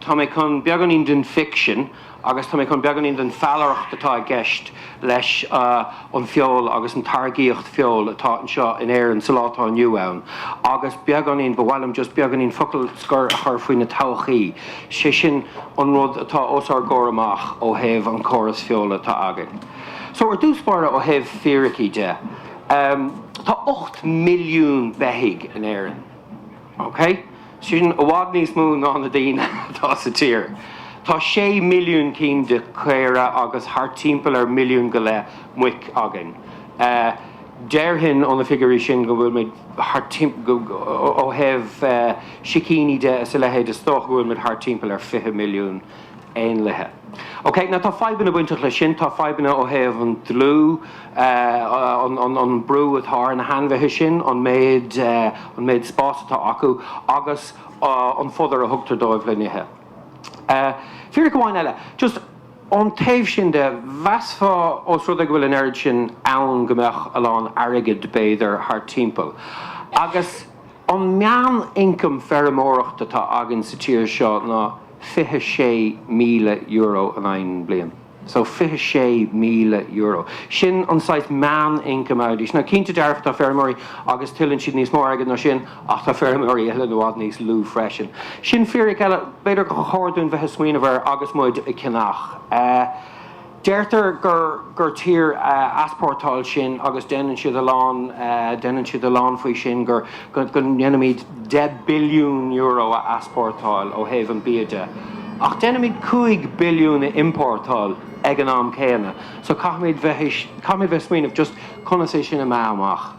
Tá mé chun beagáinín den ficsean agus tá mé chun beagáinín den fallaireacht atá i gceist leis an feol agus an táirgíocht feola atá anseo in Éirinn sa lá atá inniu ann agus beagáinín, ba mhaith liom just beagáinín focal scoir a chur faoin todhchaí, sé sin an rud atá os ár gcomhair amach ó thaobh an córas feola atá againn. So ar dtús báire ó thaobh fíricí de, tá 8 milliún beithígh in Éirinn. Ok? Sin i bhfad níos mó ná na daoine atá sa tír. Tá sé milliún cinn de chaora agus thart timpeall ar milliún go leith muic againn. Déarfainn ó na figiúirí sin go bhfuil muid, ó thaobh sicíní de is a leithéid, is dócha go bhfuil muid thart timpeall ar fiche milliún. éanlaithe. Ok, now tá fadhbanna bainteach leis sin, tá fadhbanna ó thaobh an dlúth, an brú atá ar na hainmhithe sin, an méid, an méid spás atá acu agus an fodar a thugtar dóibh le n-ithe. Fíric amháin eile, just ón taobh sin de, mheasfá os rud é go bhfuil an oiread sin ann go mbeadh a lán airgid, b'fhéidir, thart timpeall. Agus an meán-ioncam feirmeoireacht atá againn sa tír seo ná. €26,000 in aghaidh an bliain. So €26,000. Sin an saghas meán income airde. Now cinnte dearfa tá feirmeoirí agus tuilleann siad níos mó airgead ná sin ach tá feirmeoirí eile i bhfad níos lú freisin. Sin fíric eile b'fhéidir gur chóir dúinn bheith ag smaoineamh air agus muid ag ceannach. Deirtear gur gur tír easportáil sinn agus déanann siad a lán déanann siad a lán faoi sin gur go go ndéanaimid deich billiún euro a easportáil ó thaobh an bia de ach déanaimid cúig billiún a importáil ag an am céanna so caithfimid bheith caithfimid bheith smaoineamh just conas é sin a meá amach.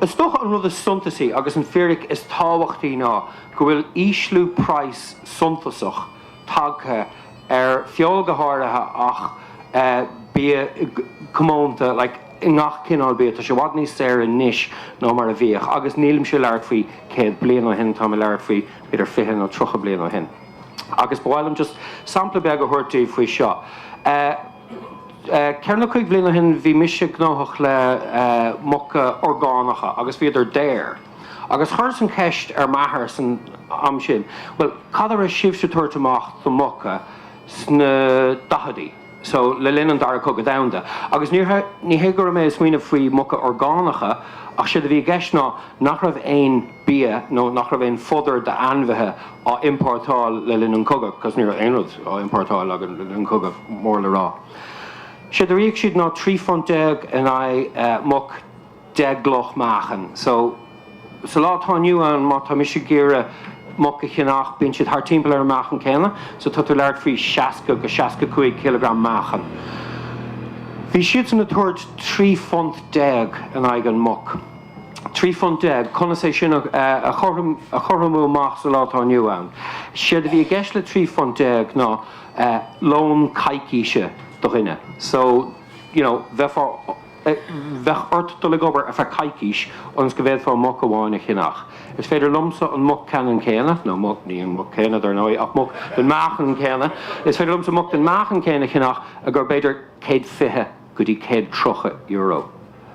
Is dócha an rud is suntasaí agus an fíric is tábhachtaí ná go bhfuil ísliú price suntasach, tagtha ar feoil go háirithe ach bia comónta like i ngach cineál bia tá sé i bhfad níos saoire anois ná mar a bhíodh agus nílimse ag labhairt faoi 100 bliain ó shin táim ag labhairt faoi b'fhéidir 20 nó 30 bliain ó shin agus ba mhaith liom just sampla beag a thabhairt daoibh faoi seo ceithre nó cúig bliain ó shin bhí mise gnóthach le muca orgánacha agus bhíodar daor. Agus chuireas an ceist ar m'athair san am sin, bhuel, cad a raibh sibhse ag tabhairt amach do muca sna daicheadaí, so, le linn an Dara Cogadh Domhanda? Agus ní hé go raibh mé ag smaoineamh faoi muca orgánacha ach séard a bhí i gceist ná nach raibh aon bia nó nach raibh aon fodar d'ainmhithe á importáil le linn an cogadh, cos ní raibh aon rud á importáil againn le linn an cogadh, mór le rá. Séard a d'íoc siad ná trí phunt déag in aghaidh muc. 10 gcloch meáchan. So, sa lá atá inniu ann, má tá mise ag iarraidh muc a cheannach, bíonn siad thart timpeall ar an meáchan céanna. So, tá tú ag labhairt faoi 60-65 cileagram meáchan. Bhí siadsan ag tabhairt 13 phunt in aghaidh an muc. 13 phunt, conas é sin a chothromú amach sa lá atá inniu ann? Séard a bhí i gceist le 13 phunt ná lón coicíse do dhuine. So, you know, bheifeá Bheadh ort dul ag obair ar feadh coicíse ionas go bhféadfá muc amháin a cheannach. Is féidir liomsa an muc ceannann céanna, nó muc, ní an muc céanna dar ndóigh, ach muc den meáchan céanna, is féidir liomsa muc den meáchan céanna a cheannach ar b'fhéidir céad fiche go dtí céad tríocha euro.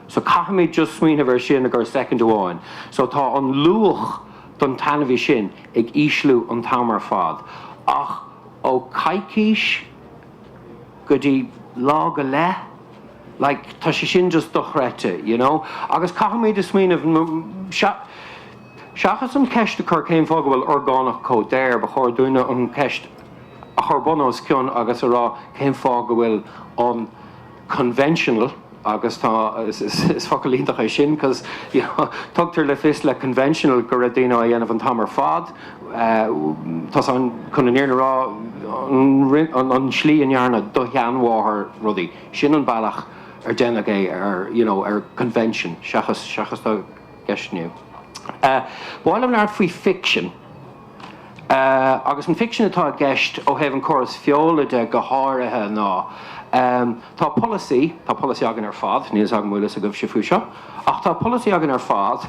So caithfimid just smaoineamh ar sin ar feadh soicind amháin. So tá an luach don t-ainmhí sin ag ísliú an t-am ar fad. Ach ó coicís? go dtí lá go leith, like, tá sé sin just dochreidte, you know. Agus caithfimid smaoineamh, seachas an cheist a chur cén fáth go bhfuil orgánach chomh daor, ba chóir dúinne an cheist a chur bun os cionn agus a rá cén fáth go bhfuil an, conventional agus tá, is focal iontach é sin cos you know tugtar le fios le conventional go raibh daoine á dhéanamh an t-am ar fad tá's a'm, chun an fhírinne a rá an tslí a ndearna do sheanmháthair rudaí, sin an bealach ar déanadh é ar you know ar convention seachas seachas dá gceistniú. B'áil liom labhairt faoi fiction. Agus an ficsean atá i gceist ó thaobh an córas feola de go háirithe ná, tá polasaí, tá polasaí againn ar fad, níl fhios agam an bhfuil fhios agaibhse faoi seo, ach tá polasaí againn ar fad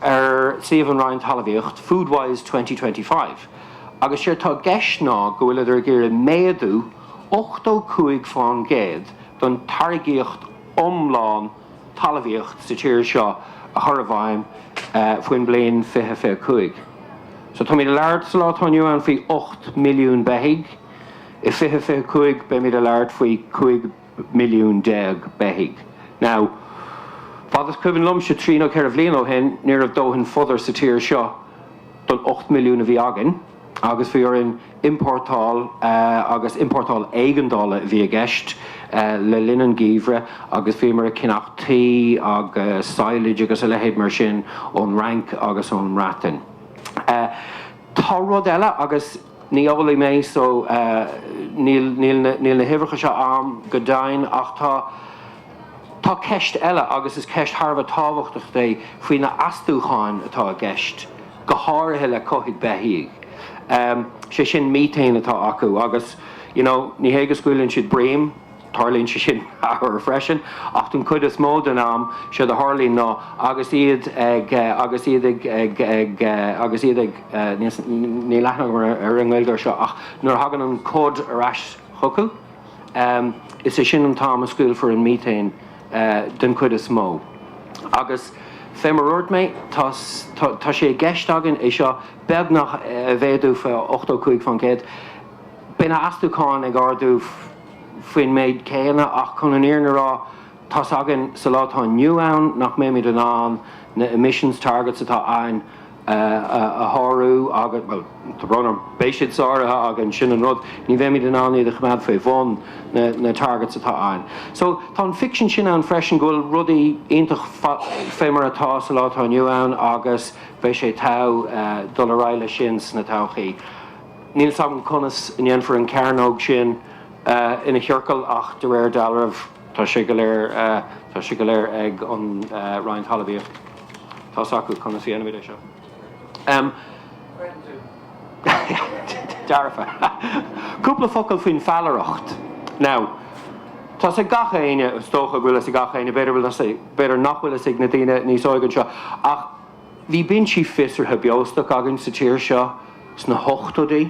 ar suíomh an Roinn Talamhaíocht, Food Wise 2025, agus séard tá i gceist ná go bhfuileadar ag iarraidh méadú ochtó cúig faoin gcéad don tairgíocht iomlán, talmhaíocht sa tír seo a chur i bhfeidhm faoin mbliain 2025. So táimid a labhairt sa lá atá inniu ann faoi 8 milliún beithígh, i 2025 beimid a labhairt faoi 15 milliún beithígh. Now, fad is cuimhin liomsa, trí nó ceithre bliain ó shin, ní raibh dóthain fodair sa tír seo don 8 milliún a bhí againn. agus bhí orainn importáil agus importáil éigeandála a bhí i gceist le linn an gheimhridh agus bhíomar ag ceannacht tuí agus silage agus a leithéid mar sin ón Fhrainc agus ón mBreatain. Tá rud eile agus ní eolaí mé so níl na huimhreacha seo a'am go deimhin ach tá, Tá ceist eile, agus is ceist thar a bheith tábhachtach é, faoi na h-astúcháin atá i gceist, go háirithe le cothú beithíoch. Sé sin Methane atá acu agus you know ní hé go scaoileann siad breim, tarlaíonn sé sin ar ndóigh freisin, ach don chuid is mó den am, séard a tharlaíonn ná agus iad ag agus iad ag ag ag agus iad ag níl aithne agam ar an nGaeilge ar seo ach nuair a thagann an cod ar ais chucu, Is é sin an t-am a scaoilfear an miotaen den chuid is mó. Agus fé mar a dhúirt mé, tá sé i gceist againn é seo beagnach a mhéadú faoi 85% Beidh na astúcháin ag ardú faoin méid chéanna ach chun an fhírinne a rá tá's againn sa lá atá inniu ann nach mbeimid in ann na emissions targets atá againn a shárú agus, bhuel, tá brón orm, beidh siad sáraithe againn, sin an rud, ní bheimid in ann iad a choimeád faoi bhun na targets atá ann. So, tá an ficsean sin ann freisin go bhfuil rudaí iontach fé mar atá sa lá atá inniu ann agus beidh sé togha dul ar aghaidh le sin sa todhchaí. Níl 's agam conas a dhéanfar an cearnóg sin ina chiorcal ach de réir dealraimh tá sé go léir, tá sé go léir ag an Roinn Talmhaíochta. Tá's acu conas a dhéanfaimid é seo. Dearfa. Cúpla focal faoin feallaireacht. Now, tá's ag gach éinne, is dócha go bhfuil fhios ag gach éinne, b'fhéidir bhfuil fhios ag, b'fhéidir nach bhfuil fhios ag na daoine níos óige anseo, ach bhí binsí fiosraithe beostoic againn sa tír seo sna hochtóidí.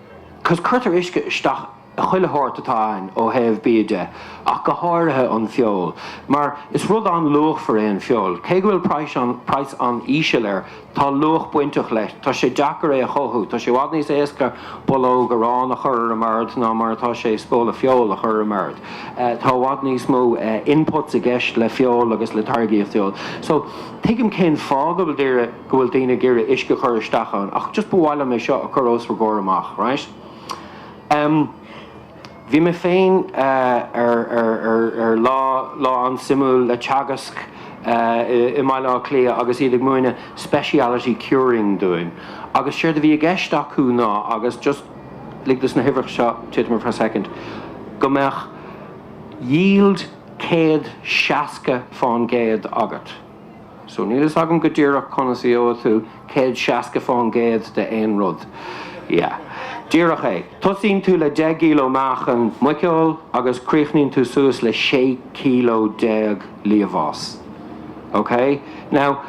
'Cause cuirtear uisce isteach i chuile shórt atá ann ó thaobh bia de, ach go háirithe an feoil. Mar is rud an-luachmhar é an feoil. Cé go bhfuil praghas an-íseal air, tá luach bainteach leis. Tá sé deacair é a chothú. Tá sé i bhfad níos éasca bollóg aráin a chur ar an mbord ná mar atá sé spóla feoil a chur ar an mbord. Tá i bhfad níos mó inputs i gceist le feoil agus le táirgíocht feoil. So, tuigim cén fáth go bhfuil daoine. go bhfuil daoine ag iarraidh uisce a chur isteach ann ach just ba mhaith liom é seo a chur os bhur gcomhair amach right em bhí mé féin ar ar ar ar lá lá an-suimiúil le Teagasc eh i mBaile Átha Cliath agus iad ag múineadh speciality curing dúinn agus séard a bhí i gceist acu ná agus just lig dos na huimhreacha seo titim for a second go mbeadh yield céad seasca faoin gcéad agat. So níl fhios agam go díreach conas a gheobhadh tú céad seasca faoin gcéad de aon rud. Yeah. Díreach é. Tosaíonn tú le deich gcileo meáchan muiceoil agus críochnaíonn tú suas le sé cileo déag liamhás. Okay? Now,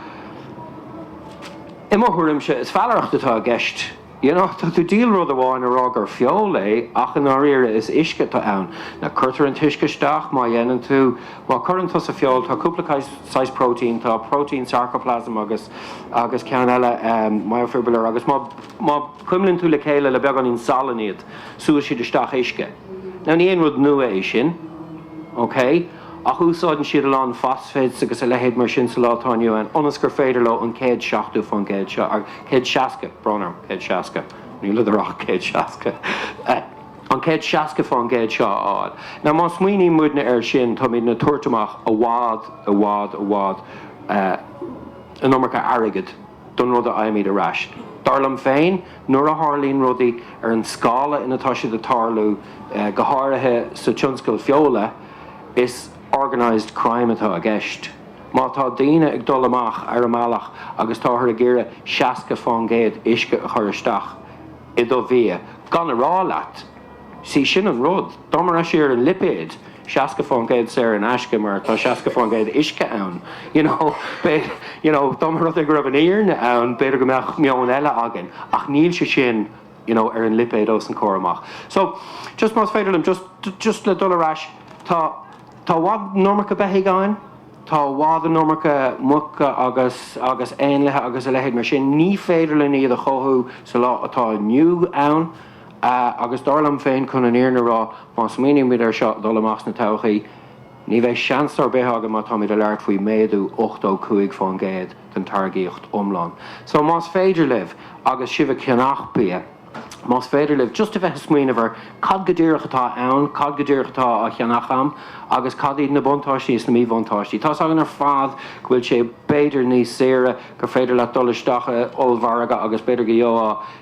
i mo thuairimse, is feallaireacht atá i gceist. tá tú ag díol rud amháin a rá gur feoil é ach i ndáiríre is uisce atá ann. Now cuirtear an t-uisce isteach má dhéanann tú, má chuireann tusa feoil tá cúpla saghas protein, tá protein sarcoplasm agus, agus ceann eile myofibrillar agus má, má chuimlíonn tú le chéile le beagáinín salann iad súnn siad isteach uisce. Now ní haon rud nua é sin. Okay? Ach úsáideann siad a lán phosphates agus a leithéid mar sin sa lá atá inniu ann ionas gur féidir leo an céad seachtó fán gcéad seo, a, céad seasca, brón orm, céad seasca, níl, níor ach céad seasca, a, an céad seasca fán gcéad seo a fháil. Now má smaoiníonn muidne air sin táimidne ag tabhairt amach i bhfad, i bhfad, i bhfad, eh, an iomarca airgead. don rud a fhaighimid ar ais. Dar liom féin, nuair a tharlaíonn rudaí ar an scála ina atá siad ag tarlú, go háirithe sa tionscal feola, is organised crime atá i gceist. Má tá daoine ag dul amach ar a mbealach agus táthar ag iarraidh seasca fán gcéad uisce a chur isteach i do bhia, gan a rá leat, Sea, sin an rud. Dá mba raibh sé ar an lipéad, seasca fán gcéad saor in aisce mar tá seasca fán gcéad uisce ann, you know, b'fhéidir, you know, dá mba rud é go raibh an fhírinne ann, b'fhéidir go mbeadh meon eile againn ach níl sé sin, you know, ar an lipéad os an comhair amach. So, just más féidir liom, just, just le dul ar ais, tá, tá i bhfad an iomarca beithígh againn, tá i bhfad an iomarca muca agus, agus éanlaithe agus a leithéid mar sin, ní féidir linn iad a chothú sa lá atá inniu ann. Agus dar liom féin, chun an fhírinne a rá, má smaoinímid air seo, dul amach sa todhchaí, ní bheidh seans ar bith againn má táimid ag labhairt faoi méadú 85% den táirgíocht iomlán. So, más féidir libh, agus sibh ag ceannach bia, más féidir libh just a bheith ag smaoineamh ar cad go díreach atá ann, cad go díreach atá á cheannach a'm agus cad iad na buntáistí is na míbhuntáistí. Tá's againn ar fad go bhfuil sé b'fhéidir níos saoire, gur féidir leat dul isteach in ollmhargadh agus b'fhéidir go gheofá,